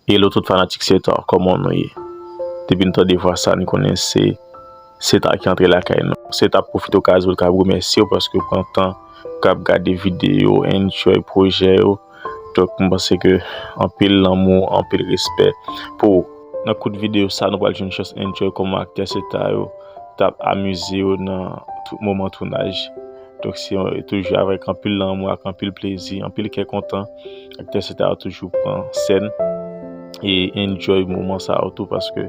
Hello tout fanatik Cestar koman nou ye depi nou tande vwa sa nou konnen se Cestar ki antre lakay nou Cestar ap pwofite okazyon kap remèsyew paske ou pran tan pou kap gade videyo enjoy pwojè yo donk m panse ke anpil lanmou anpil respè pou ou. Nan kout videyo sa nou pral jwenn chans enjoy koman aktè Cestar yo tap amize yo nan moman tounaj. Donk se toujou avèk anpil lanmou ak anpil plezi, anpil kè kontan aktè se ta yo toujou pran sèn e enjoy moman sa yo tou paske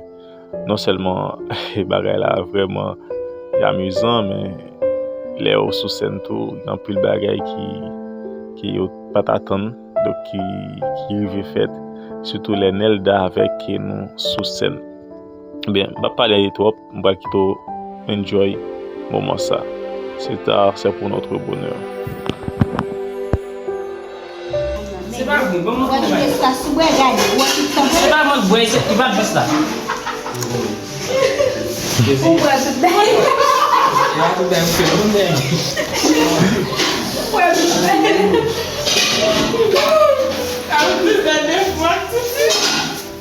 non sèlman bagay la vrèman amizan men lè yo sou sèn tou gen anpil bagay ki yo pa t atann donk ki rive fèt sitou lè Nelda avèk Kenou sou sèn. Ebyen, m pap pale twòp, m pral kite w enjoy moman sa. Cet art c'est pour notre bonheur.